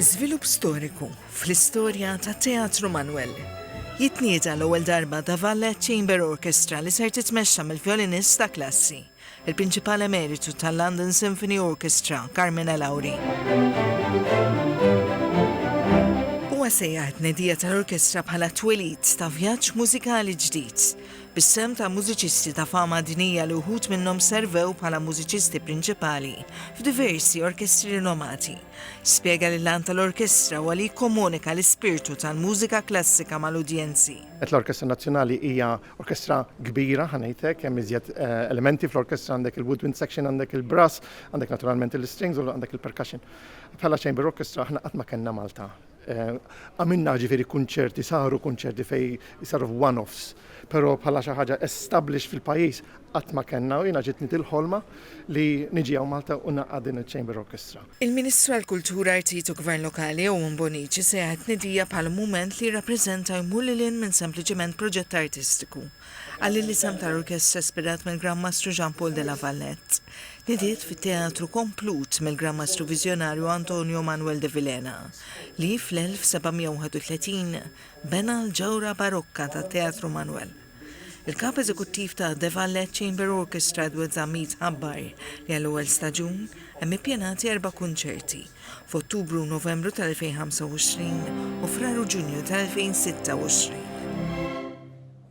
Żvilupp storiku fl-istorja tat-Teatru Manwel. Jitniedi għall-ewwel darba The Vallet Chamber Orchestra li ser titmexxa mill-vjolinist ta' klassi, il-Prinċipal Emeritu tal-London Symphony Orchestra, Carmine Lauri. Huwa sejjaħ it-tnedija tal-orkestra bħala t-twelid ta' vjaġġ mużikali ġdid. bis-sehem ta' mużiċisti ta' fama dinjija li wħud minnhom servew bħala mużiċisti prinċipali f'diversi orkestri rinomati, spjega li l-għan tal-orkestra huwa li jikkomunika l-ispirtu tal-mużika klassika mal-udjenzi. Qed l-Orkestra Nazzjonali hija orkestra kbira, ħa ngħid hekk, hemm iżjed elementi fl-orkestra, għandek il-woodwind section, għandek il-brass, għandek naturalment il-strings u għandek il-percussion. Bħala chamber orchestra aħna qatt ma kellna Malta Għamilna ġifieri kunċerti, saru kunċerti fejn saru f'one-offs, però bħala xi ħaġa established fil-pajjiż qatt ma kellna u jiena ġietni dil-ħolma li niġi hawn Malta u ngħaqqad din iċ-Chamber Orchestra. Il-Ministru għall-Kultura, Artijiet u Gvern Lokali, Owen Bonnici sejjaħ it-tnidija bħala mument li jirrappreżenta u jmur lil hinn minn sempliċement proġett artistiku. Għal il-isem tal-orkestra ispirat mill-Gran Mastru Jean Paul de la Valette. Nidiet fit-teatru komplut mill-Gran Mastru Viżjonarju Antonio Manuel de Vilhena, li fl-1731 bena l-ġewra barokka tat-Teatru Manuel. Il-Kap Eżekuttiv ta' De Valette Chamber Orchestra Edward Zammit ħabbar li għall-ewwel staġun hemm ippjanati erba' kunċerti, f'Ottubru u Novembru tal-2025 u Frar u Ġunju tal-2026.